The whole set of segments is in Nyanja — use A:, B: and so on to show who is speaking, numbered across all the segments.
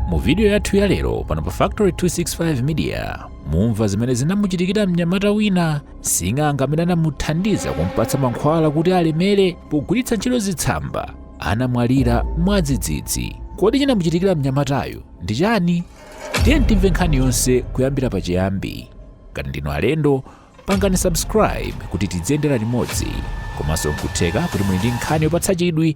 A: mu vidiyo yathu ya lero pano pa factory 265 media mumva zimene zinamuchitikira mnyamata wina sing'anga amene anamuthandiza kumpatsa mankhwala kuti alemere pogwiritsa ntchito zitsamba anamwalira mwadzidzidzi kodi chinamuchitikira mnyamatayu ndi chani tiyeni timve nkhani yonse kuyambira pachiyambi ngati ndinu alendo pangani subscribe kuti tidziyendera limodzi komanso nkutheka kuti muli ndi nkhani yopatsa chidwi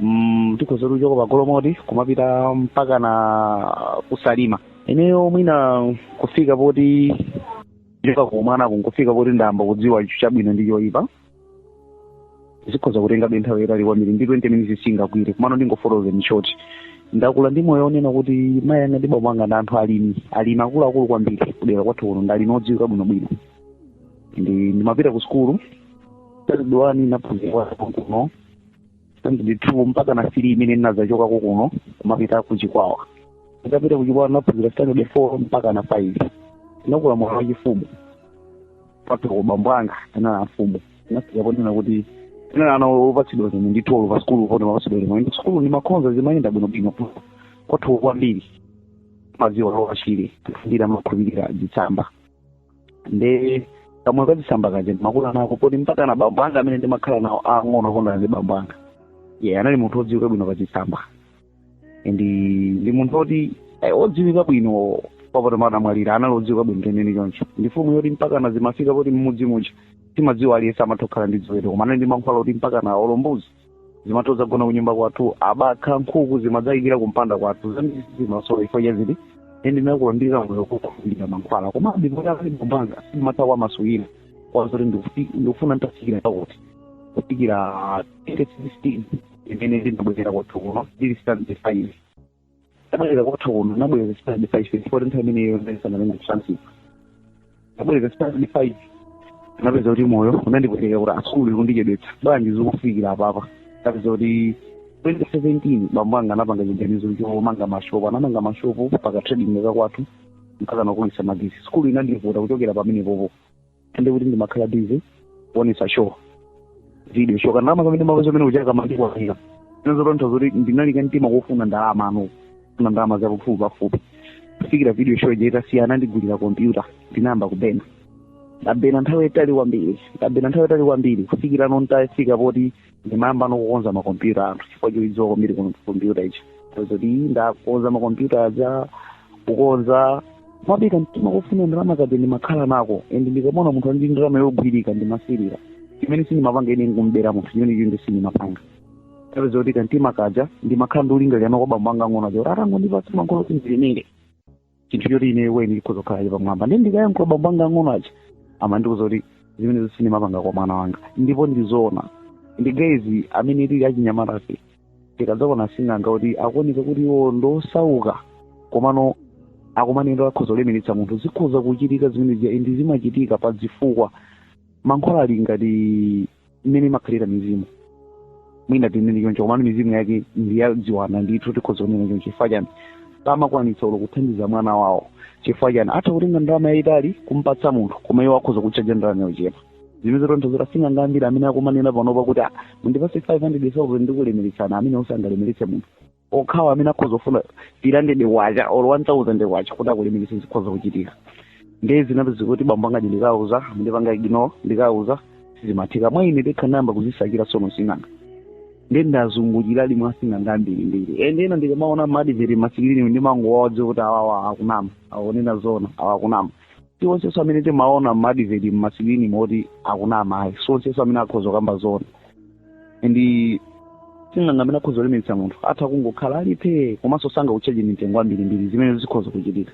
B: mm, tikhoza kuchoka pa golomoti kumapita mpaka na kusalima ineyo mwina kufika poti kuchoka kumwana nkufika poti ndayamba kudziwa icho chabwino ndi choyipa zikhoza kutengabe nthawi yayitali kwambiri ndi 20 minutes singakwanire komano ndingofotokoza in short ndakula ndi moyo onena kuti mayi anga ndi bambo anga ndi anthu alimi alimi akuluakulu kwambiri kudera kwathu kuno ndi alimi odziwika bwinobwino ndi ndimapita ku sukulu standard one naphunzira kuno standard two mpaka na three imene ndinadzachokako kuno kumapita ku chikwawa nditapita ku chikwawa naphunzira standard four mpaka na five ndinakula moyo wa chifumu kwathuko abambo anga anali amfumu ndinafika ponena kuti anali ana opatsidwa zimwe ndi tolo pa sukulu pone mapatsidwa zimwe ndi sukulu ndimakhonza zimayenda bwinobwino kwathu kwambiri madziwa lowa chile ndira makhulupirira zitsamba nde kamoyo kazitsamba kaja ndimakula nako poti mpaka na bambo anga amene ndimakhala nawo ang'ono awo ndi bambo anga ye anali munthu odziwika bwino pazitsamba ndi ndi munthu oti eh, odziwika bwino kwabasi anamwalira anali odziwika bwino teneni choncho ndi fumu yoti mpaka na zimafika poti mmudzi muja timadziwa aliyense amatha kukhala ndi ziweto koma anali ndi mankhwala oti mpaka na olo mbuzi zimatha kudzagona kunyumba kwathu abakha nkhuku zimadzayikira kumpanda kwathu zambiri zimasowa chifukwa cha ziti ende ndinakula ndi moyo wokhulupirira mankhwala koma ndipoti akali kumbanga simatha kwa masukira kwazoti ndikufi- ndikufuna nditafikira pakuti kufikira 2016 imene ndinabwerera kwathu kuno ndili standard five tabwerera kwathu kuno nabwereza standard five ndipo nthawi imeneyo ndaisanalenge kusansipa nabwereza standard five napeza kuti moyo unandipweteka kuti ah sukulu ikundichedwetsa bwanji zikufikira apapa napeza kuti 2017 bambo anga anapanga chiganizo chomanga mashopu anamanga mashopu paka trading kakwathu mpaka nakokeretsa magetsi sukulu inandivuta kuchokera pamenepopo ende kuti ndimakhala busy kuonesa show video show kandalama kamene ndimapeza kamene kuchaka mandikwanira zinazo tontha zoti ndinali nkamtima kofuna ndalama ano kofuna ndalama za pafupi pafupi kufikira video show ija itasiya anandigulira kompyuta ndinayamba kubena ndabena nthawi yayitali kwambiri ndabena nthawi yayitali kwambiri kufikira ano nditafika poti ndimayamba nokukonza makompyuta a anthu chifukwa choidziwa kwambiri ku kompyuta ichi zoti ndakonza makompyuta aja kukonza mabika mtima kufuna ndalama kaja ndimakhala nako and ndikamaona munthu ali ndi ndalama yogwirika ndimasirira chimene sindimapanga ine nkumbera munthu chimene ine sindimapanga ndinapeza kuti kamtima kaja ndimakhala ndi kulingalira kwa bambo anga ang'ono aja kuti atangondipatsa mankhwala kuti ndilemere chinthu choti ine weni chikhoza kukhala cha pamwamba ndiye ndikayankhula bambo anga ang'ono aja amandiuza kuti zimenezo sindimapanga kwa mwana wanga ndipo ndizoona ndi guys amene tili achinyamatafe tikadzaona sing'anga kuti akuoneka kuti iwo ndosauka komano akumanena kuti akhoza kulemeretsa munthu zikhoza kuchitika zimenezi ndi zimachitika pa zifukwa mankhwala ali ngati mmene imakhalira mizimu mwina tinene choncho komano mizimu yake ndi ya ziwanda ndithu tikhoza kunena choncho chifukwa chani samakwanitsa olo kuthandiza mwana wawo chifukwa chani atha kutenga ndalama yayitali kumpatsa munthu koma iwo akhoza kutchaja ndalama yochepa zimenezo n'chifukwa sing'anga ambiri amene akumanena panopa kuti "Ah, mundipatse 500,000 ndikulemeretsani amenewo sangalemeretse munthu okhawo amene akhoza kufuna 300 kwacha or 1000 kwacha kuti akulemeretse zikhoza kuchitika ndiye zinapezeka kuti bambo anga aja ndikawauza amandipanga ignore ndikawauza sizimatheka mwa ine ndekha n'nayamba kuzisakira tsono asing'anga ndiye ndazungulira mwa asing'anga ambirimbiri and ena ndikamaona m'ma TV m'masikilini ndimangowadziwa kuti awawa akunama akunena zona awa akunama si onsenso amene timaona m'ma TV mmasikilinimo kuti akunama ayi si onsenso amene akhoza kukamba zona and sing'anga amene akhoza kulemeretsa munthu atha kungokhala alipe komanso sangakutchaje mtengo wambirimbiri zimene zikhoza kuchitika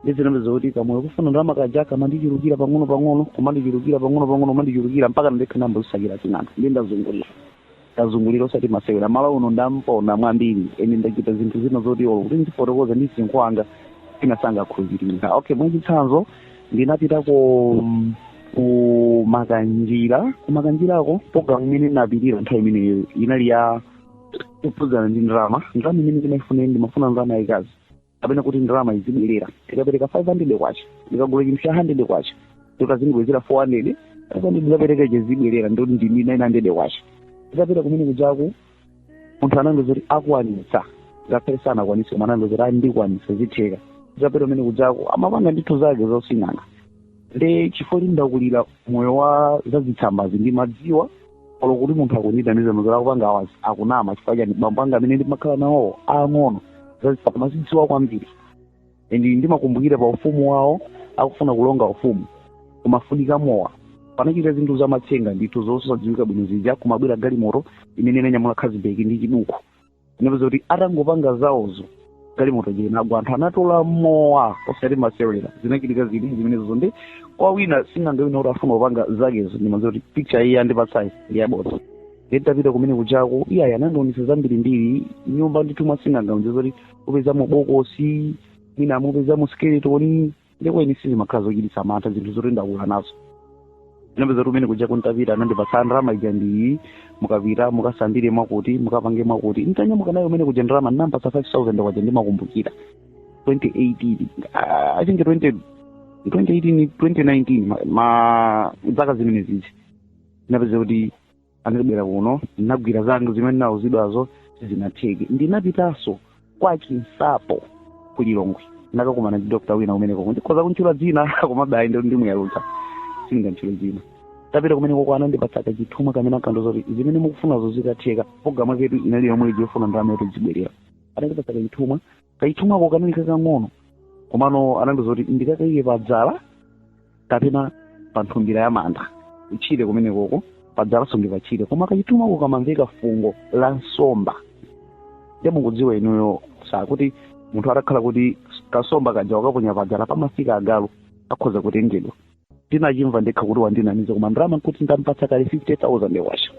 B: ndiye zinapezeka kuti kamoyo kofuna ndalama kaja kamandichulukira pang'ono pang'ono kumandichulukira pang'ono pang'ono kumandichulukira mpaka ndekha ndayamba kuzisakira sing'anga ndiye ndazungulira ndazungulira osati masewera Malawi uno ndamponda kwambiri ende ndachita zinthu zina zoti olo kuti ndifotokoze ndi msinkhu wanga ena sangakhulupirire okay mwachitsanzo ndinapita ku ku Makanjira ku Makanjirako programu imene ndinapitira nthawi imeneyo inali yokhudzana ndi ndalama ndalama imene ndimaifuna ine ndimafuna ndalama yayikazi kapena kuti ndalama izibwerera ndikapereka 500 kwacha ndikagula chinthu cha 100 kwacha ndiye kuti azindibwezera 400 kapena ndikapereka izibwerera ndiye kuti ndi 900 kwacha titapita kumene kujaku munthu anandiuza kuti akwanitsa ngakhale sanakwanitse koma anandiuza kuti ayi ndikwanitsa zitheka titapita kumene kujaku amapanga zinthu zake za using'anga nde chifukwa kuti ndakulira moyo wa zazitsambazi ndimadziwa olo kuti munthu akundithandiza mmene akupangira awa akunama chifukwa chani bambo anga amene ndimakhala nawo aang'ono zazitsamba amazidziwa kwambiri and ndimakumbukira pa ufumu wawo akufuna kulonga ufumu kumafunika mowa panachitika zinthu zamatsenga ndithu zosadziwika bwino zija kumabwera galimoto imene inanyamula khazibeki ndi Chibuku anapeza kuti atangopanga zawozo galimoto ija inagwa anthu anatola mowa osati masewera zinachitika zili zimenezo ndi kwa wina sing'anga wina kuti afuna kupanga zakezo ndimaziwa kuti picture iyi andipatsayi ndi yabodza nditapita kumene kujako iyayi anandionesa zambirimbiri nyumba ndithu mwa sing'anga umadziwa kuti upezamo bokosi mwina umapezamo skeletoni ndipo eni sizimakhala zochititsa mantha zinthu zoti ndakula nazo zinapezeka kuti kumene kujaku ntapita anandipatsa ndalama ija ndiye mukapita mukasambire mwakuti mukapange mwakuti ntanyamuka nayo kumene kuja ndalama ndinampatsa 5000 kwacha ndimakumbukira 2018 ah, i think 20 2018 2019 ma- ma zaka zimenezizi ndinapeza kuti ndinabwera kuno ndinagwira zanga zimene ndinauzidwazo sizinatheke ndinapitanso kwa chinsapo ku lilongwe ndakakumana ndi dokta wina kumenekoko ndikhoza kuntchula dzina komabe ayi ndi- ndimuyalutsa sindingantchule dzina ntapita kumenekoko anandipatsa kachithumwa kamene akandiuza kuti zimene mukufunazo zikatheka programu yaketu inali yomwe ija yofuna ndalama yoti izibwerera anandipatsa kachithumwa kachithumwako kanali kakang'ono komano anandiuza kuti ndikakaike pa dzala kapena pa nthumbira ya manda kutchire kumenekoko padzalanso ndi patchire koma kachithumwako kamamveka fungo la nsomba ndiye mukudziwa inuyo sakuti munthu atakhala kuti kansomba kaja wakaponya padzala pamafika agalu akhoza kutengedwa ndinachimva ndekha kuti wandinamiza koma ndalama nkuti ndampatsa kale 50000 kwacha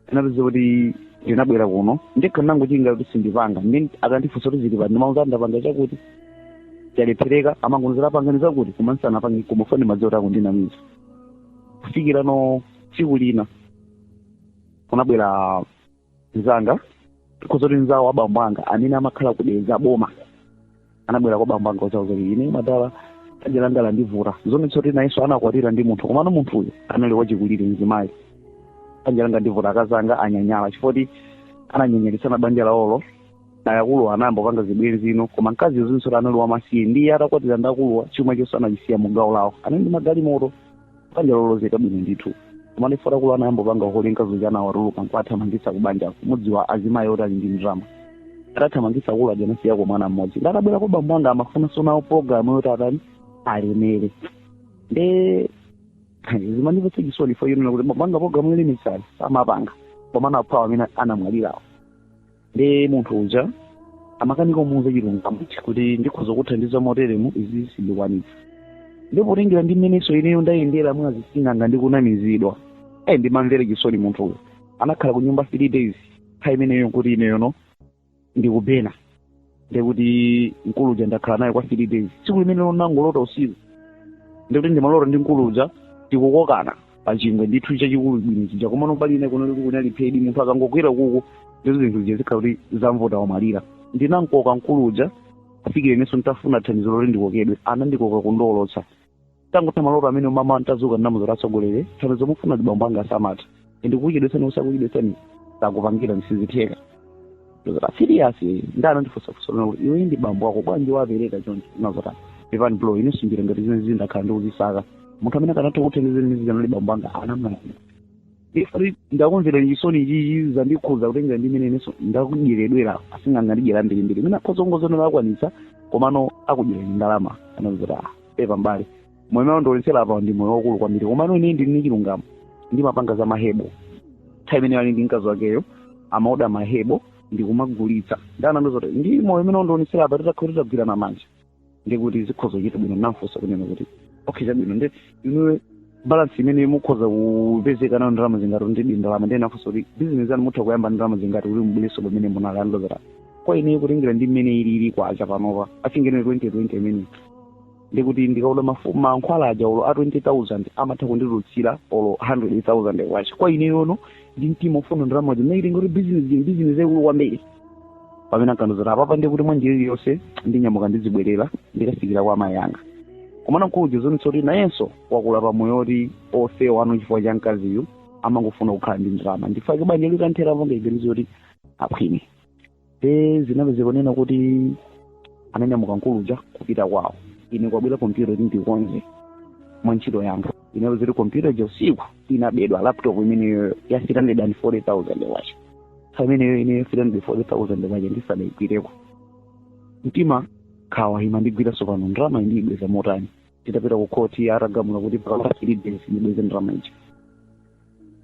B: ndinapeza kuti ndinabwera kuno ndekha ndinangochilinga kuti sindipanga nde akandifunsa kuti zili pati ndimauza ndapanga chakuti chalephereka amangowonjezera pangani zakuti koma ndisanapange koma chifukwa ndimadziwa kuti akundinamiza kufikira no tsiku lina kunabwera mzanga tikhoza kuti mzawo wa bambo anga amene amakhala ku dedza boma anabwera kwa bambo anga kudzawauza zoti ine madala banja langa landivuta zonetsa kuti nayenso anakwatira ndi munthu komano munthuyo anali wachikulire mzimayi banja landivuta akazi anga anyanyala chifukwa choti ananyanyalitsana banja lawolo ndiye akuluwa anayamba kupanga zibwenzi ino koma mkazi zoonetsa kuti anali wamasiye ndiye atakwatira ndi akuluwa chuma chonse anachisiya mu gawo lawo anali ndi magalimoto banja lolozeka bwino ndithu koma ndiye poti akuluwa anayambopanga uhule mkazi uja anawatulukira nkuwathamangitsa kubanja mudziwa azimayi oti ali ndi ndalama atathamangitsa akulu aja anasiyako mwana mmodzi nde atabwera kwa bambo anga amafunanso nawo programu yoti atani alemere nde zimandipatsa chisoni fo yonena kuti bambo anga programu yolemeretsayi samapanga koma anaphawa amene anamwalirawo ndiye munthu uja amakanika kumuuza chilungamo kuti ndikhoza kuthandiza moteremu izi sindikwanitsa ndipo potengera ndi mmenenso ineyo ndayendera mwa zising'anga ndi kunamizidwa ayi ndimamvera chisoni munthuyo anakhala ku nyumba three days nthawi imeneyo nkuti ineyono ndikupena ndekuti mkulu uja ndakhala naye kwa three days tsiku limene ndinangolota usiku ndekuti ndimalota ndi mkulu uja tikukokana pa chingwe ndithu chachikulu bwino chija komano pali ine kuno liku kunali phedi munthu akangogwera kuku ndizo zinthu zija zikhala kuti zamvota wamalira ndinamkoka mkulu uja kufikira inenso nditafuna thandizo loti ndikokedwe anandikoka kundiwolotsa tangotha maloto amene mmawa nditadzuka ndinamuuza kuti atsogoleri thandizo mufuna bambo anga asamate ndikukuchedwetsani usakuchedwetsani sakupangirani sizitheka ndozota siriyasi ndi anandifunsa kusolona kuti iwe ndi bambo wako bwanji wapereka choncho ndinazota pepani bro ine sinjira ngati zimene zindakhala ndikuzisaka munthu amene akanatha kuthandizira ndi zija nali bambo anga anamwalira ifati ndakumverani chisoni ichichi zandikhuza kutengera ndi imene inenso ndakudyeredwera asing'anga andidyera mbirimbiri mwina akhoza kungozionera akwanitsa komano akudyerani ndalama anazoti ah pepa mbali moyo umene wandionetsera apa ndi moyo waukulu kwambiri komano ine ndili ndi chilungamo ndimapanga za mahebo nthawi imene ali ndi mkazi wakeyo amaoda mahebo ndikumagulitsa nde anandiuza zoti ndi moyo umene wandionetsera apa titakhala titagwirana manja ndiye kuti zikhoza kuchita bwino namfunsa kunena kuti okay chabwino nde inuwe balance imene mukhoza kupezeka nayo ndi ndalama zingati ndi di ndalama ndiye nafunsa kuti bizinesi yanu mutha kuyamba ndi ndalama zingati kuti mubwerenso pamene munali anandiuza kwa ineyo kutengera ndi mmene ili ili kwacha panopa muchinenge 2020 imene ndikuti ndikaoda mafu- mankhwala aja olo a 20000 amatha kunditulutsira olo 100000 kwacha kwa ineyono ndi mtima ofuna ndalama zimene kuti bizinesi bizinesi yaikulu kwambiri pamene ankandiuza kuti apapa ndiye kuti mwa njira iliyonse ndinyamuka ndizibwerera ndikafikira kwa amayi anga komano mkuluja zimaonetsa kuti nayenso wakula pamoyo oti ofewa nano chifukwa cha mkaziyu amangofuna kukhala ndi ndalama ndichifukwa chake banja linathera kupanga maganizo oti akhwime e zinapezeka kunena kuti ananyamuka mkuluja kupita kwawo ine kwabwera kompyuta kuti ndikonze mwa ntchito yanga inapezeka kuti kompyuta ija usiku inabedwa laptop imeneyo ya 340000 kwacha pameneyo ineyo 340000 kwacha ndisanaigwireko mtima nkhawa imandigwira tsopano ndalama iyi ndiyibweza motani titapita ku khoti atagamula kuti pakapita three days ndibweze ndalama ija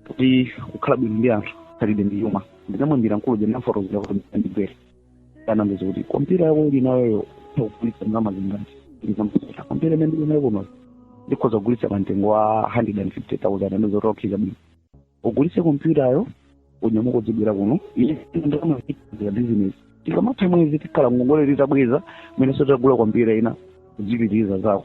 B: kuti kukhala bwino ndi anthu khalidwe ndi chuma ndinamuimbira mkulu uja ndinamufotokozera kuti ndibwere anandiuza kuti kompyuta yako uli nayoyo ukugulitsa ndalama zingati ndinamuuza kompyuta imene ndili nayo kuno ndikhoza kugulitsa pa mtengo wa 150000 anandiuza kuti okay chabwino ugulitse kompyutayo unyamuka udzibwera kuno iyo ndalama ikulitsire business tikamatha mwezi tikhala ngongole titabweza mwinanso titagula kompyuta ina kudzipitiriza zako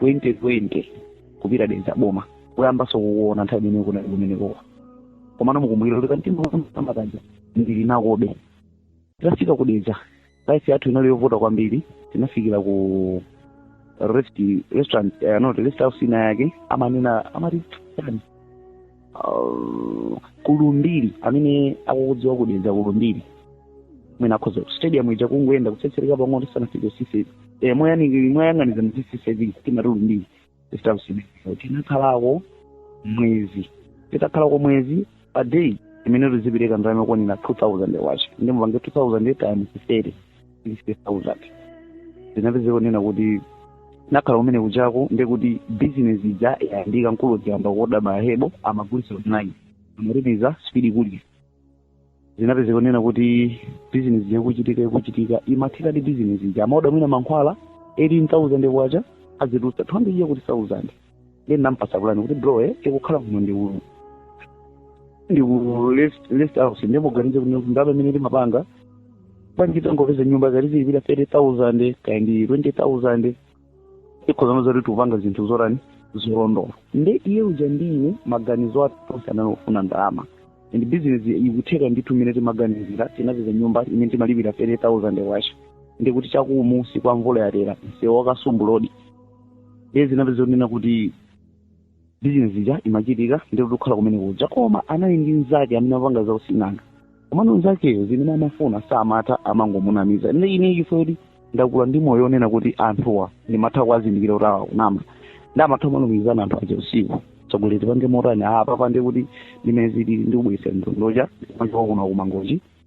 B: 2020 kupita dedza boma kuyambanso kukuona nthawi imene kunali kumenekowa komano mukumbukira kuti kanthawi kameneka kaja ndilibe nakobe tinafika ku dedza life yathu inali yovuta kwambiri tinafikira ku rest restaurant eh, no rest house ina yake amanena amati chani uh, kulumbiri amene akukudziwa kudedza kulumbiri mwina akhoza stadium ija kungoyenda kutsetsereka pang'ono tisanafike sisi eh, moyani- moyang'aniza ndi sisi timati lumbiri rest house ina tinakhalako mwezi titakhalako mwezi pa day imene tizipereka ndalama yokwanira 2000 kwacha nde mupange 2000 times 30 60,000 zinapezeka kunena kuti nakhala kumene kujako ndekuti bizinesi ija yayambika mkulu uja anayamba kuoda mahebo amagulisa online amaripisa spidi kulisa zinapezeka kunena kuti bizinesi yakuchitika yakuchitika imathekadi bizinesi ija amaoda mwina mankhwala 18000 kwacha azigulitsa 200 ya kuti 1000 nde ndinampasa plan kuti bro eh tikukhala kuno ndi uyu ndi ku rest house ndiye muganize kuti ndalama imene timapanga bwanji tangopeza nyumba zoti tizilipira 30000 kaya ndi 20000 ikhozano zoti tikupanga zinthu zotani zolondoloza nde iye uja ndi ine maganizo athu tonse anali ofuna ndalama and business ikutheka ndithu imene timaganizira tinapeza nyumba imene timalipira 30000 kwacha ndikuti chakumunsi kwa mvula yatera msewu wa Kasumbu Road iye zinapezeka zonena kuti bizinesi ija imachitika ndithu tikukhala kumene kuja koma anali ndi mnzake amene amapanga zausing'anga komano mnzakeyo zimene amafuna samatha amangomunamiza ndi ine chifukwa ndakula ndi moyo onena kuti anthuwa ndimatha kuwazindikira kuti awa kunama nde amatha kumalumikizana anthu aja usiku zokuti tipange motani apa pande kuti ndimene zili ndikubweretsa ndondocha machoko kuno kumangochi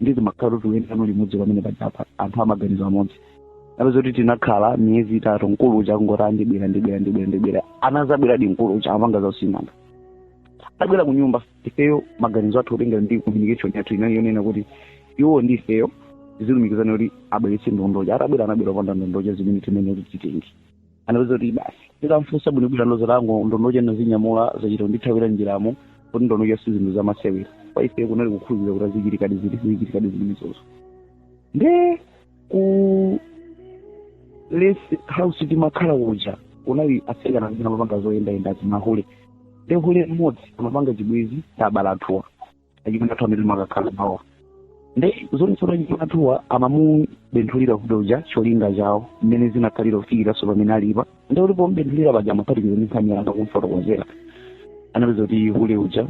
B: ndi zimakhala kuti uyenda nawo limodzi pamene pajapa anthu amaganizo amodzi anapezeka zoti tinakhala miyezi itatu mkulu uja akungoti ndibwera ndibwera ndibwera ndibwera anazabweradi mkulu uja amapanga zausing'anga atabwera ku nyumba ifeyo maganizo athu otengera ndi communication yathu inali yonena kuti iwo ndi ifeyo tizilumikizana kuti abweretse ndondocha atabwera anabwera opanda ndondocha zimene timanena kuti titenge anatiuza kuti basi tikamfunsa bwinobwino ndi zolango ndondocha nazinyamula zachita kundithawira njiramo kuti ndondocha si zinthu zamasewera kwa ife kunali kukhulupirira kuti azichitikadi ziti zichitikadi zimenezozo nde ku rest house timakhala kuja kunali atsikana amene amapanga zoyendayenda za mahule nde hule mmodzi amapanga chibwezi ndi abale athuwa achimwene athu amene timakakhala nawo nde zonse za achimwene athuwa amamubenthulira hule uja cholinga chawo mmene zinakhalira kufikiranso pamene alipa nde kuti pomubenthulira paja amaphatikiza ndi nkhani yanga kumfotokozera anapeza kuti hule uja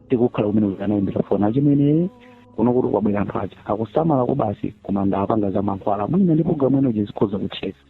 B: tikukhala kumene uja anaimbira foni achimwene kuno kuti kwabwera anthu aja akusamala kubasi koma ndi opanga za mankhwala mwina ndi programu ino uja zikhoza kutheka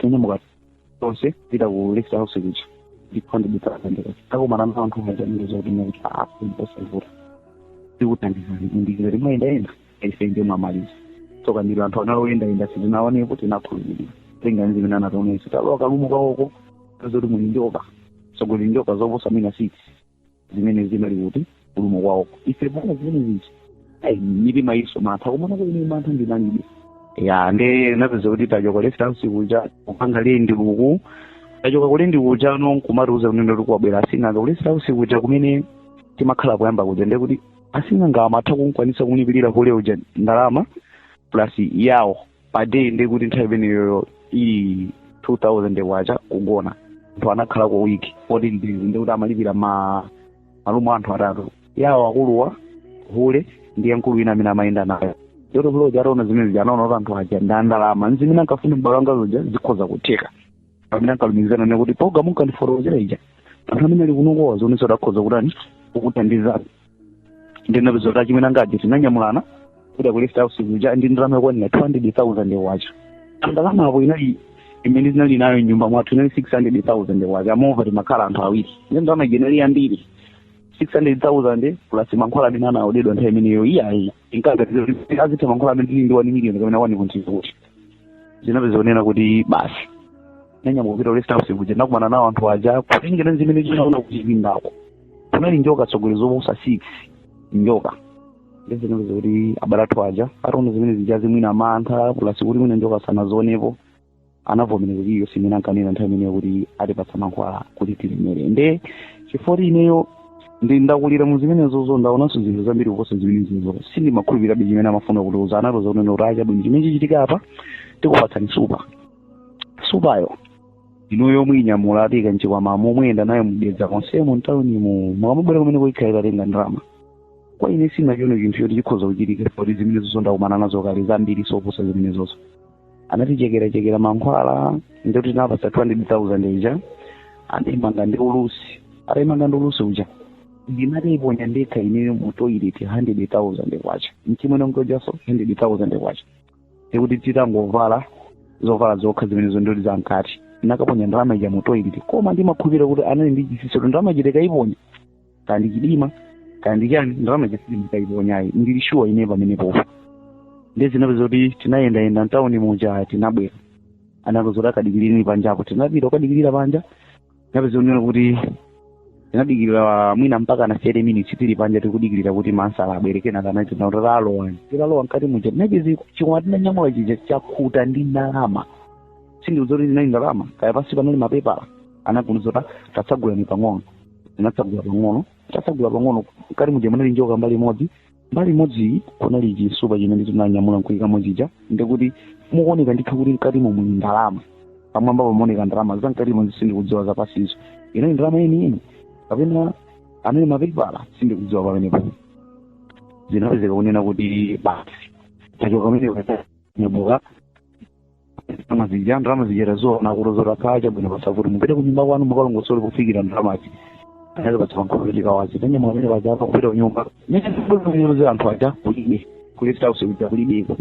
B: tinyamuka tonse tipita ku rest house kuja ndipo ndibitsaendeka takumana ndi anthu mazanire zoti muti apo ndiposavuta tikuthandizani indikira timayendayenda ife ndi mwamaliza tsoka ndilo anthu anali oyendayenda sitinaonepo tinakhulupirira tinga zimene anationetsa talowa kalumo kawoko zoti muli njoka zoti muli njoka zoposa mwina six zimene zimali kuti ulimo kwawoko ife pano zimene zija mitima inachita mantha kumaona kuti ine mantha ndinalibe ya nde napeza kuti tachoka ku rest house kuja kupanga lendi uku tachoka kulendi kuja no nkumatiuza kunena kuti kwabwera asing'anga ku rest house kuja kumene timakhala poyamba kuja nde kuti asing'anga amatha kunkwanisa kumlipirira hule uja ndalama plus yawo pa day ndiye kuti nthawi imeneyoyo inali 2000 kwacha kugona anthu anakhala kwa wiki 14 days ndiye kuti amalipira ma room a anthu atatu yawo akuluwa wa hule ndiye mkulu wina amene amayenda nayo yoto aja ataona zimene zija anaona kuti anthu aja ndi andalama nzimene ankafuna m'bale wanga uja zikhoza kutheka pamene ankalumikizana nde kuti program munkandifotokozera ija anthu amene ali kunokowa zionetsa kuti akhoza kutani kukuthandizani ndinapeza kuti achimwene anga aja tinanyamulana kupita ku rest house kuja ndi ndalama yokwanira 200000 kwacha ndalama apo inali imene tinali nayo mnyumba mwathu inali 600000 kwacha and over timakhala anthu awiri ndi ndalama ija inali yambiri 600,000 plus mankhwala amene anaodedwa nthawi imeneyo iyayi tinkaganizira kuti akatha mankhwala amene tili ndi 1 million kapena 1.2 zinapeza kunena kuti basi nanyamuka kupita ku rest house kuja nakumana nawo anthu aja kutengera zimene zinaona kuchipindako kunali njoka zokhazokha zoposa six njoka nde zinapezeka kuti abale athu aja ataona zimene zija mwina mantha plus kuti mwina njoka sanazionepo anavomereza kuti iwo zimene ankanena nthawi imeneyo kuti atipatsa mankhwala kuti tilemere nde chifukwa kuti ineyo ndinakulira mu zimenezozo ndaonanso zinthu zambiri kuposa zimenezozo sindimakhulupirabe chimene amafuna kutiuza anatiuza kunena kuti ah chabwino chimene chichitika apa tikupatsani supa supayo inuyo muinyamula muika mchikwama mumayenda nayo mudutsa konsemo mtaunimu mukamabwera kumeneko ikhala itatenga ndalama kwa ine sinachiona chinthu choti chikhoza kuchitika poti zimenezozo ndakumana nazo kale zambiri zoposa zimenezozo anatichekerachekera mankhwala nde tinawapatsa 200000 ija anaimanga ndi ulusi ataimanga ndi ulusi uja ndinataiponya ndekha ineyo mu toilet 100000 kwacha mchimwene ujaso 100000 kwacha nde kuti titangovala zovala zokha zimenezo nde kuti zamkati nakaponya ndalama ija mu toilet koma ndimakhulupirira kuti anali ndi chitsitsi kuti ndalama ija ndikaiponya kaya ndi chidima kaya ndi chani ndalama ija sindikuiponya ayi ndili shuwa ine pamenepo nde zinapezeka kuti tinayendayenda mtawuni muja tinabwera anatiuza kuti takadikirirani panjapo tinapita kukadikirira panja tinapeza kunena kuti tinadikirira mwina mpaka na 30 minutes tili panja tikudikirira kuti ma answer abwere kenaka anatiitana kuti talowani titalowa mkati muja tinapeza chikwama tinanyamula chija chakhuta ndi ndalama sindikudziwa kuti zinali ndalama kaya pansi panali mapepala anangotiuza kuti tatsagulani pang'ono tinatsegula pang'ono tatsegula pang'ono mkati muja munali njoka mbali imodzi mbali imodzi kunali chisupa chimene tinanyamula nkuikamo chija ndikuti mukuoneka ndithu kuti mkatimo muli ndalama pamwamba pamaoneka ndalama za mkatimo sindikudziwa zapansizo inali ndalama yeniyeni kapena anali mapepala sindikudziwa pamenepo zinapezeka kunena kuti basi tachoka pamenepo nyamuka ndalama zija ndalama zija taziona kutiuza kuti ah chabwino basi kuti mupite ku nyumba kwanu mukalongosole kufikira ndalamazi anatipatsa mankhwala tikawaze tanyamuka pamene paja kupita kunyumba nyeeoze anthu aja kulibe kuleta house kuja kulibeko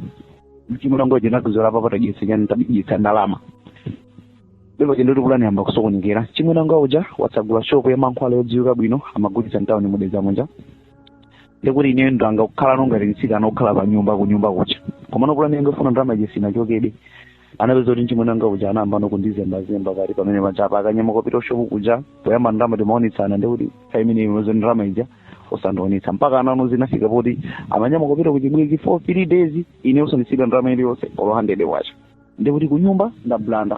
B: mchimulongo uja natiuza apa tagwetsa chani tabetsa ndalama ndipo chendo pulani yayamba kusokonekera mchimwene wanga uja watsegula shopu ya mankhwala yodziwika bwino amagulitsa mtawuni mu Dedza muja ndikuti ineyo ndangokhala ngati mtsikana okhala pa nyumba ku nyumba kucha komano pulani yongofuna ndalama ija sinachokebe zinapezeka kuti mchimwene wanga uja anayamba no kundizembazemba kati pamene paja akanyamuka kupita kushopu kuja poyamba ndalama timaonetsana ndikuti nthawi imeneyo ndalama ija osandionetsa mpakana no zinafika poti amanyamuka kupita kuchibwezi for three days ine osandisiyira ndalama iliyonse olo 100 kwacha ndikuti kunyumba ndabulanda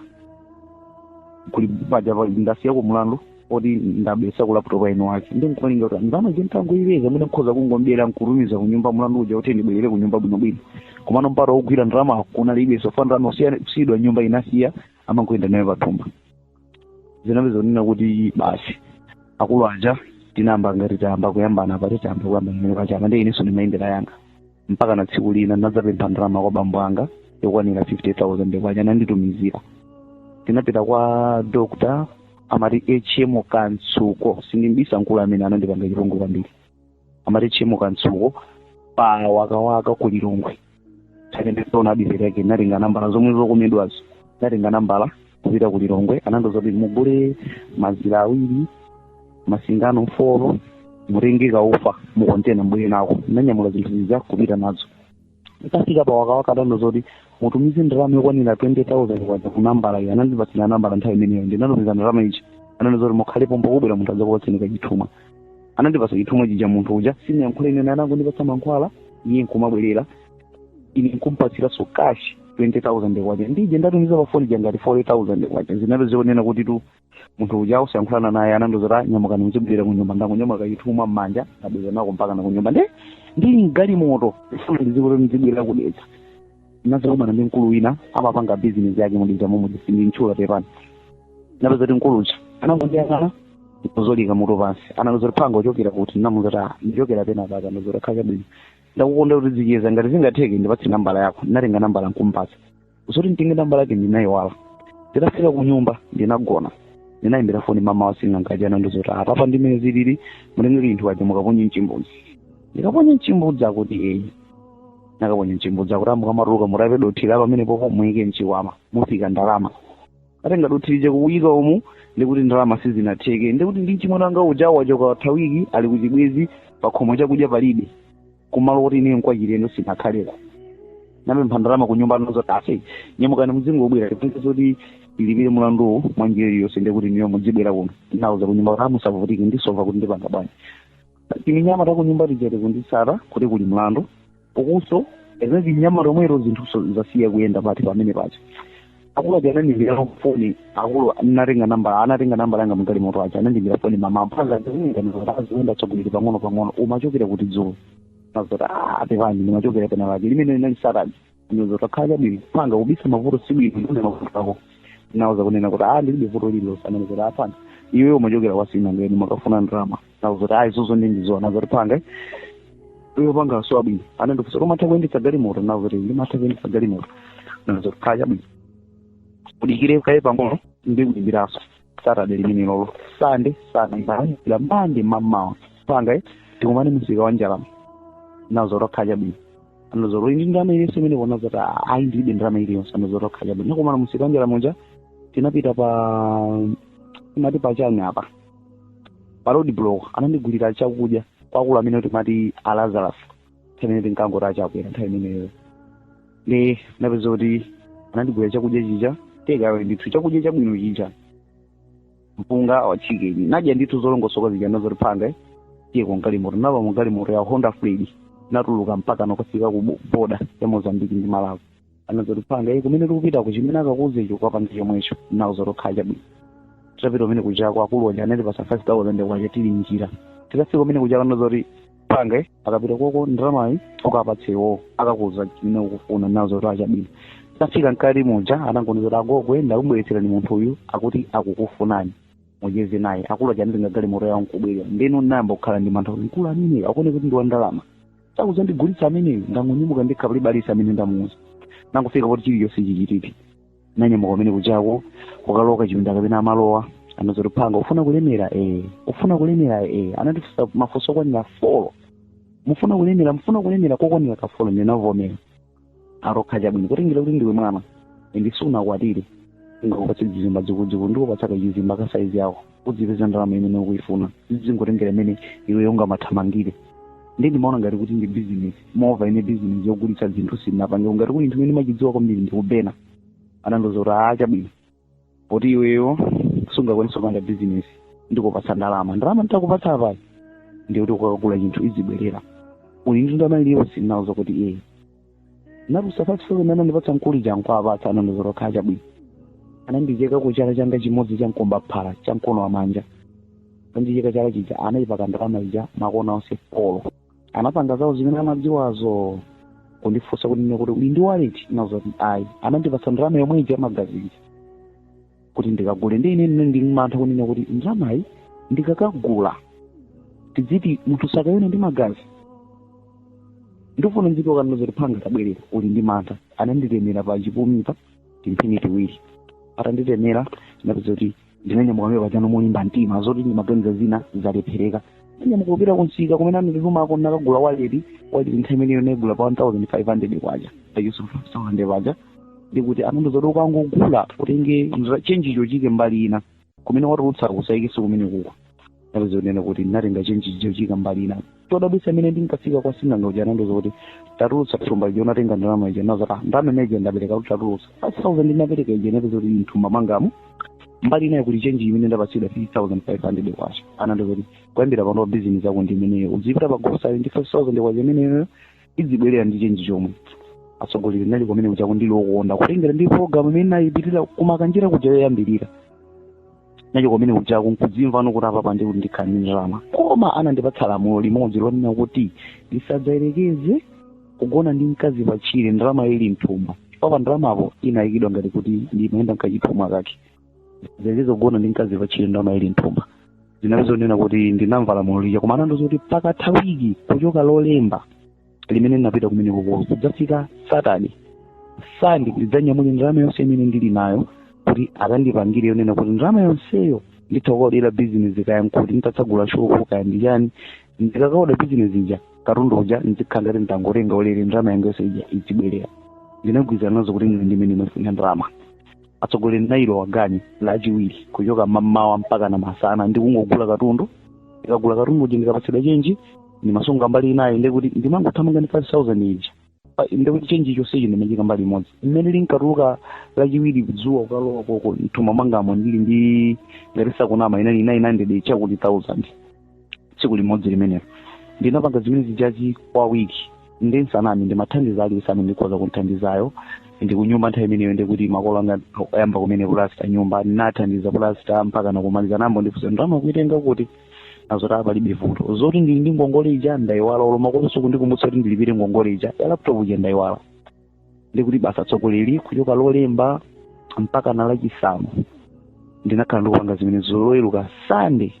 B: kuli paja ndasiyako mlandu oti ndabetsako laptop ya eni wake nde nkumalinga kuti ndalama ija nditangoipeza mwina nkhoza kungombera nkutumiza kunyumba mlandu uja kuti ndibwerere kunyumba bwinobwino komano mpata wogwira ndalama kunalibe sofa ndalama osasiyidwa m'nyumba inasiya amangoyenda nayo pathumba zinapezeka kunena kuti basi akulu aja tinayamba ngati tayamba kuyambana pati tayamba kuyambana pamene paja nde inenso ndimayendera yanga mpaka na tsiku lina ndinadzapempha ndalama kwa bambo anga yokwanira 50000 kwacha ananditumizira tinapita kwa dokotala amati hm kamtsuko sindimbisa mkulu amene anandipanga chipongwe kwambiri amati hm kamtsuko pa wakawaka ku lilongwe nditaona adiveti yake natenga nambala zomwe zokomedwazo natenga nambala kupita ku lilongwe anandiuza kuti mugule mazira awiri masingano folo mutenge kaufa mukontena mubwere nako nanyamula zinthu zija kupita nazo nditafika pa wakawaka anandiuza zoti mutumize ndalama yokwanira 20000 kwacha ku nambala iyi anandipatsira nambala nthawi imeneyo ndinatumiza ndalama ija ananena zoti mukhale pompo kubwera munthu adzakupatseni kachithumwa anandipatsa chithumwa chija munthu uja sinayankhule naye anangondipatsa mankhwala iye nkumabwerera ine nkumpatsiranso cash 20000 kwacha ndi ija ndatumiza pa foni ija ngati 40000 kwacha zinali zonena kuti tu munthu uja osayankhulana naye anandiuza kuti "Ah, nyamukani muzibwerera kunyumba ndangonyamuka chithumwa m'manja ndabwera nako mpaka na kunyumba nde ndili mgalimoto ndifuna ndizibwerera ku Dedza ndinadzakumana ndi mkulu wina amapanga bizinesi yake mu Dedza momwe sindimtchula pepani napeza kuti mkulu uja anangondiyang'ana ndikuzolika mutu pansi anandiuza kuti mphwanga uchokera kuti namuza kuti "Ah, ndichokera penapake nandiuza kuti ah chabwino ndakukonda kuti tizicheza ngati zingatheke ndipatse nambala yako natenga nambala nkumpatsa zoti nditenge nambala yake ndinayiwala nditafika ku nyumba ndinagona ndinayimbira foni mama wa sing'anga aja anandiuza kuti apapa ndimene zilili mutenge zinthu zija mukaponye mchimbudzi ndikaponye mchimbudzi akuti eyi nakaponye mchimbudzi akuti amukamatuluka mutape dothi la pamenepopo muyike mchikwama mufika ndalama natenga dothi lija kuyika umu ndikuti ndalama sizinatheke ndikuti ndi mchimwene wanga uja wachoka watha wiki ali kuchibwezi pakhomo chakudya palibe kumalo oti ine nkwachilendo sinakhaleko napempha ndalama ku nyumba anazoti ase nyamukani mudzingobwera tipange zoti tilipire mulanduwo mwa njira iliyonse ndiye kuti inuyo mudzibwera kuno nauza ku nyumba kuti musavutike ndisova kuti ndipanga bwanji timinyama ta ku nyumba tija tikundisata kuti kuli mlandu ukunso ene tinyama tomweto zinthu so- zasiya kuyenda pati pamene paja akulu aja anandiimbira foni akulu anatenga nambala anatenga nambala yanga a mugalimoto aja anandiimbira foni mamawa a phanga ziuninganiaziwenda tsogolere pang'ono pang'ono umachokera kuti dzulo nazoti a pepani ndimachokera penapake limene linali satani anazoti okay chabwino phanga kubisa mavuto si bwino ndiuze mavuto ako nauza kunena kuti a ndilibe vuto lililonse ananizoti a phanga iwe umachokera kwa sing'anga iwe umakafuna ndalama nazoti ayi zozo ndi ndi zoona anazoti phanga iwe phanga a chabwino anandifunsa koma umatha kuyendetsa galimoto nazoti ndimatha kuyendetsa galimoto anazoti okay chabwino udikire kaye pang'ono ndikuimbiranso saturday limenelolo sande sande la mande mamawa phanga eh, tikumane msika wa njala nazoti okay chabwino anazoti uli ndi ndalama iliyonse pamenepo nazoti ayi ndilibe ndalama iliyonse anazoti okay chabwino nakumana msika wa njala muja tinapita pa amati pachani apa pa road block anandigulira chakudya kwa akulu amene timati a lazarus nthawi imene tinkangoti achakwera nthawi imeneyo nde napeza kuti anandigulira chakudya chija tekawe ndithu chakudya chabwino chija mpunga wa chicken nadya ndithu zolongosoka zija anazoti phanga tiye ku galimoto napa mu galimoto ya honda freed natuluka mpakana kukafika ku bo- boda ya mozambiki ndi malawi anazoti phanga kumene tikupitako chimene akakuuza icho ukapange chomwecho nazoti okay chabwino tapita kumene kujako akulu aja anatipasa five thousand kwacha tili mnjira tikafika kumene kujako anazoti phanga ukapita koko ndalamayi ukapatse iwowo akakuuza chimene ukufuna nazoti okay chabwino tafika mkati muja anangonena zoti agogo ndakubweretserani munthu uyu akuti akukufunani mucheze naye akulu aja anatenga galimoto yawo nkubwera ndiye nayamba kukhala ndi mantha kuti mkulu amene akuoneka kuti ndi wa ndalama sakuzandigulitsa ameneyo ndangonyamuka ndekha palibe aliyense amene ndamuuza nangofika poti chilichonse chichitike nanyamuka kumene kujako kukalowa kachipinda kapena amalowa anazoti phanga ufuna kulemera eh ufuna kulemera eh anatifunsa mafunso okwanira folo mufuna kulemera mufuna kulemera kokwanira kafolo ndinavomera ati okay chabwino kutengera kuti ndiwe mwana ende sunakwatire singakupatse dzizimba dzikuludzikulu ndikupatsa kachizimba ka saizi yako udzipeza ndalama imene ukuyifuna zizingotengera mmene iwe ungamathamangire ndiye ndimaona ngati kuti ndi business mova ine business yogulitsa zinthu sinapange ngati kuti chinthu chimene ndimachidziwa kwambiri ndi kuba ine anandiuza kuti aa chabwino poti iweyo sungakwanisa kupanga business ndikupatsa ndalama ndalama nditakupatse apayi ndiye kuti ukakagula chinthu izibwerera uli ndi ndalama iliyonse ndinauza kuti ee natulutsa 5000 imene anandipatsa mkulu uja nkuwapatsa anandiuza kuti okay chabwino anandicheka ku chala changa chimodzi cha mkombaphala cha mkono wa manja atandicheka chala chija anayipaka ndalama ija makona onse folo anapanga zawo zimene amadziwazo kundifunsa kunena kuti uli ndi waleti nawauza kuti ayi anandipatsa ndalama yomwe ija ya magazi ija kuti ndikagule ndiye ine ndinali ndi mantha kunena kuti ndalamayi ndikakagula tidziti munthu sakayone ndi magazi ndikufuna ndizituluka anandiuza kuti mphwanga tabwerera uli ndi mantha ananditemera pa chipumipa timphini tiwiri atanditemera ndinapeza kuti ndinanyamuka ine apa chano molimba mtima zoti ndimaganiza zina zalephereka nanyamuka kupita kumsika kumene ananditumako nakagula waleti waleti nthawi imeneyo naigula pa 1500 kwacha ayuso 5000 kwacha ndekuti anandiuza kuti ukangogula utenge chenjicho uchiike mbali ina kumene watulutsa usayikenso kumene kuko ndinapeza kunena kuti ndinatenga chenji chija nkuchiika mbali ina chodabwitsa mmene ndinkafika kwa sing'anga uja anandiuza kuti tatulutsa thumba lija unatenga ndalama ija nawauza kuti ah ndalama imene ija ndapereka akuti tatulutsa 5000 ndinapereka ija inapezeka kuti mthumba mwangamo mbali inayo kuli chenji imene ndapatsidwa 3500 kwacha anandiuza kuti kuyambira pano bizinesi yako ndi imeneyo uzipita pa grocery ndi 5000 kwacha imeneyo idzibwerera ndi chenji chomwe atsogoleri nali kumene kujako ndili wokondwa kutengera ndi programu imene nayipitira ku Makanjira kuja yoyambirira nachoka kumene kujako nkudzimva no kuti apapa ndiye kuti ndikhala ndi ndalama koma anandipatsa lamulo limodzi lonena kuti ndisadzayerekeze kugona ndi mkazi patchire ndalama ili mthumba papa ndalamapo inayikidwa ngati kuti ndimayenda mkachithumwa kake ndisadzayerekeze kugona ndi mkazi patchire ndalama ili mthumba zinapezeka kunena kuti ndinamva lamulo lija koma anandiuza kuti pakatha wiki kuchoka lolemba limene ndinapita kumene kuko kudzafika Saturday Sunday ndidzanyamule ndalama yonse imene ndili nayo kuti akandipangire yonena kuti ndalama yonseyo nditha kukaodera bizinesi kaya nkuti nditatsagula shopu kaya ndichani ndikakaoda bizinesi ija katundu uja ndizikhala ngati ndangotenga ulere ndalama yanga yonse ija idzibwerera ndinagwirizana nazo kuti ndine ndimene ndimafuna ndalama atsogoleri nailowa game lachiwiri kuchoka mammawa mpaka na masana ndi kungogula katundu ndikagula katundu uja ndikapatsidwa chenji ndimasunga mbali inayi ndekuti ndimangothamanga ndi 5000 ija ndekuti chenji chonsechi ndimachiika mbali imodzi mmene linkatuluka lachiwiri dzuwa kukalowa koko mthumba mwangamo ndili ndi ngati sindikunama inali 900 chakuti 1000 tsiku limodzi limenelo ndinapanga zimene zijazi kwa wiki ndisaname ndimathandiza aliyense amene ndikhoza kunthandizayo ndikunyumba nthawi imeneyo ndikuti makolo anga ayamba kumene pulasta nyumba ndinathandiza pulasta mpaka nakumaliza nambo ndifuna ndalama kuitenga kuti zoti palibe vuto zoti ndili ndi ngongole ija ndaiwala olo makolo osandikumbutsa kuti ndilipire ngongole ija ya laptop ija ndaiwala ndi kuti basi atsogoleri kuchoka lolemba mpaka na lachisanu ndinakhala ndikupanga zimenezo loweruka sande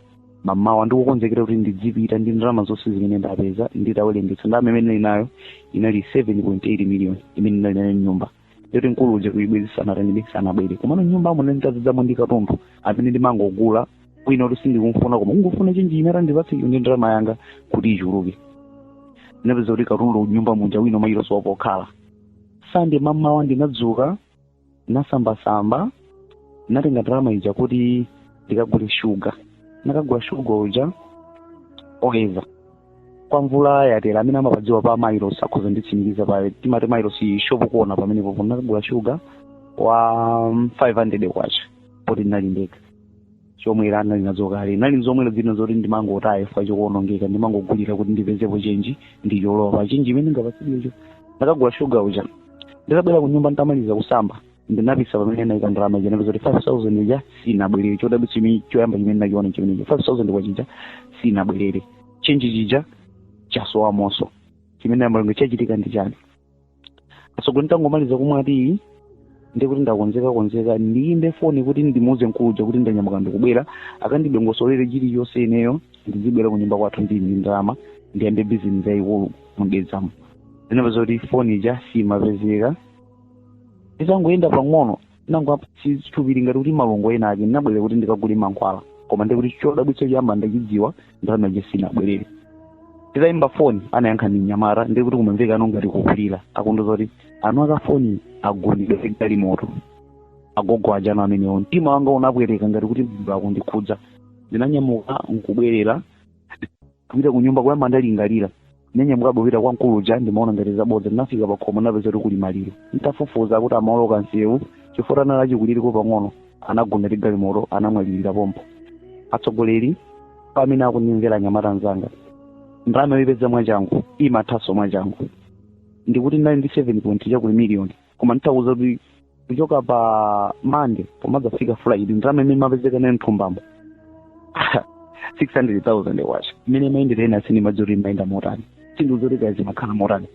B: mamawa ndikukonzekera kuti ndidzipita ndi ndalama zonse zimene ndapeza nditawerengetsa ndalama imene ndinali nayo inali 7.8 million imene ndinali nayo nyumba yoti mkulu uja kuibwezisana atanibe sanabwere komano nyumba muja nditadzadzamo ndi katundu amene ndimangogula kwina kuti sindikumfuna koma kungofuna chenji imene atandipatse iyo ndi ndalama yanga kuti ichuluke ndinapeza kuti katundu nyumba muja wina malo osowa pokhala sande mamawa ndinadzuka nasambasamba natenga ndalama ija kuti ndikagule shuga nakagula shuga uja oyeza kwa mvula yatera amene amapadziwa pa mairos akhoza kunditsimikiza pa timati mairos ishopu kuona pamenepo nakagula shuga wa mm, 500 kwacha poti ndinali ndekha chomwe ndinali nazo kale ndinali ndi zomwera zina zoti ndimangotaya chifukwa chokuonongeka ndimangogulira kuti ndipezepo chenji ndicholowe pa chenji imene ndingapatsidwecho nakagula shuga uja nditabwera ku nyumba nditamaliza kusamba ndinapisa pamene naika ndalama ija napeza kuti 5000 ija sinabwerere chodabwitsa chimene choyamba chimene nachiona chimenecho 5000 kwacha ija sinabwerere chenji chija chasowa moti chimene amalenga chachitika ndi chani atsogoleri nditangomaliza kumwa tiyi ndiye kuti ndakonzeka konzeka ndiyimbe foni kuti ndimuuze mkulu uja kuti ndanyamuka ndikubwera akandidongosolere chilichonse ineyo ndizibwera ku nyumba kwathu ndili ndi ndalama ndiyambe bizinesi yayikulu mu Dedzamo ndinapeza kuti foni ija simapezeka nditangoyenda pang'ono ndinangomva m'thupi ngati kuti malungo ena ake ndinabwerera kuti ndikagule mankhwala koma ndi kuti chodabwitsa choyamba ndachidziwa ndalama ija sinabwerere nditayimba foni anayankha ndi mnyamata ndi kuti kumamveka anthu ngati akulira akundiuza kuti eni ake a foni agundidwa ndi galimoto agogo aja anu amenewo mtima wanga unapweteka ngati kuti munthu akundikhudza ndinanyamuka nkubwerera kupita ku nyumba kuyamba kulingalira ndinanyamuka kupita kwa mkulu uja ndimaona ngati zabodza ndinafika pa khomo napeza kuti kuli maliro nditafufuza akuti amaoloka msewu chifukwa anali achikulireko pang'ono anagundidwa ndi galimoto anamwalirira pompo atsogoleri amene akundimvera anyamata anzanga ndalama yoipeza mwachangu imathanso mwachangu ndikuti ndinali ndi 7 point chakuti miliyoni koma nditakuuzani kuti kuchoka pa mande pomadzafika friday ndalama imene imapezeka nayo mthumbamo 600,000 kwacha mmene imayendera ine sindimadziwa kuti imayenda motani sindidziwa kuti zimakhala motani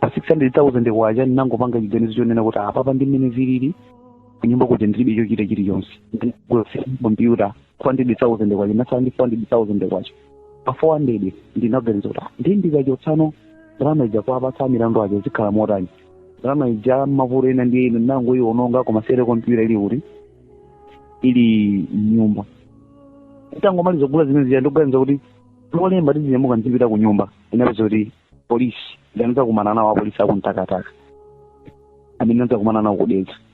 B: pa 600,000 kwacha ndinangopanga chiganizo chonena kuti apapa ndi mmene zilili kunyumba kuja ndilibe chochita chilichonse ndinagula kompyuta 400,000 kwacha ndinatsala ndi 400,000 kwacha pa 400 ndinaganiza kuti ndi ndikachotsanso ndalama ija kuapatsa milandu aja zikhala motani ndalama ija mavuto ena ndiye ine ndinangoiwononga koma sere kompyuta ili kuti ili mnyumba tangomaliza kugula zimene zija ndikuganiza kuti lolemba ndizinyamuka ndizipita ku nyumba ndinapeza kuti polisi ndinadzakumana nawo apolisi a ku Mtakataka amene ndinadzakumana nawo ku Dedza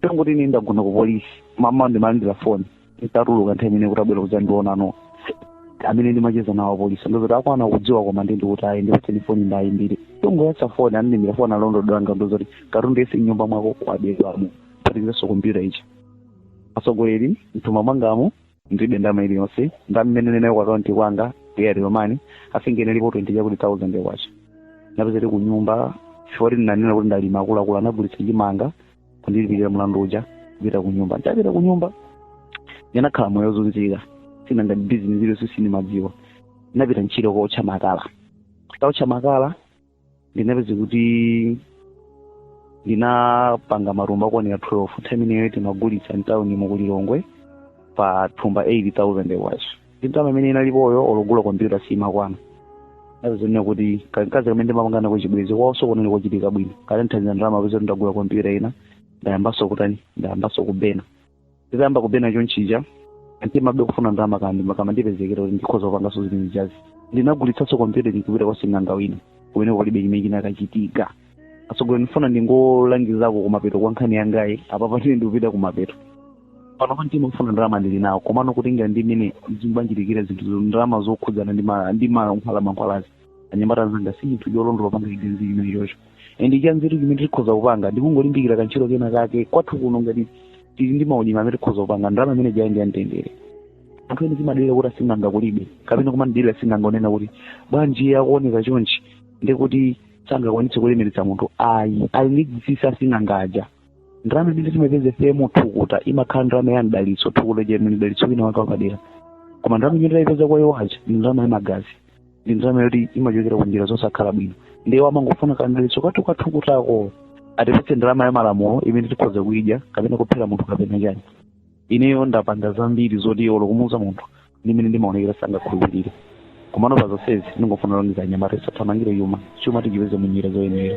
B: tongoti ine ndagona ku polisi mmawa ndimalandira foni nditatuluka nthawi imene kuti abwera kudzandionano amene ndimacheza nawo apolisi ndozoti akwana kudziwa koma ndi ndikuti ayi ndikutseni foni ndayimbire nditangoyatsa foni anandiimbira foni alandilodi anga ndozoti katundu yense mnyumba mwako wabedwamo kuphatikizanso kompyuta ija atsogoleri mthumba mwangamo ndilibe ndalama iliyonse ndalama imene ndinayo ku akaunti kwanga ya airtel money I think inalipo 20 chakuti thousand kwacha ndinapeza ndili ku nyumba chifukwa kuti ndinanena kuti ndalimba akuluakulu anagulitsa chimanga kundilipirira mlandu uja kupita ku nyumba ndapita ku nyumba ndinakhala moyo wozunzika sindinapange bizinesi iliyonse sindimadziwa ndinapita ntchito kootcha makala titaotcha makala ndinapeza kuti ndinapanga matumba okwanira 12 nthawi imeneyo timagulitsa mtawuni mu ku Lilongwe pa thumba 8000 kwacha ndi ndalama imene inalipoyo olo kugula kompyuta simakwana ndizonena kuti kamkazi kamene ndimapanga nako chibwenzi kwaonso kunali kochitika bwino kanandithandiza ndalama kupeza ndagula kompyuta ina ndayambanso kutani ndayambanso kubena nditayamba kubena chonchija mtima be ofuna ndalama kamakandipezekera kuti ndikhoza kupanganso zimene zijazi ndinagulitsanso kompyuta ndikupita kwa sing'anga wina kumene kulibe chimene chinakachitika atsogoleri ndifuna ndingolangizako kumapeto kwa nkhani yangayi apapa tine ndikupita kumapeto panopa mtima ofuna ndalama ndili nawo komano kutengera ndi mmene zimandichitikira zinthu zo- ndalama zokhudzana ndi ma- ndi mankhwalamankhwalazi anyamata anzanga si chinthu cholondola kupanga chibwenzi chimenechocho and chanzeru chimene tikhoza kupanga ndikungolimbikira kantchito kena kake kwathu kuno ngati tili ndi maulimi amene tikhoza kupanga ndalama imene jayi ndi yamtendere anthu ena timadalira kuti asing'anga kulibe kapena kumadelera asing'anga ponena kuti bwanji akuoneka chonchi ndikuti sangakwanitse kulemeretsa munthu ayi ali ndi chinsinsi asing'anga aja ndalama imene timapeza ife mu thukuta imakhala ndalama ya mdalitso thukuta lija ndi mdalitso wina wake wapadera koma ndalama imene taipeza kwa iwo aja ndi ndalama ya magazi ndi ndalama yoti imachokera ku njira zosakhala bwino ndiye amangofuna kamdalitso kathu kathu kakutiko atipatse ndalama ya malamulo imene tikhoza kuyidya kapena kuphera munthu kapena chani ineyo ndapanga zambiri zoti olo kumuuza munthu ndimene ndimaonekera sangakhulupirire komano pa zonsezi ndingofuna kulangiza anyamata tisathamangire chuma chuma tichipeze mu njira zoyenera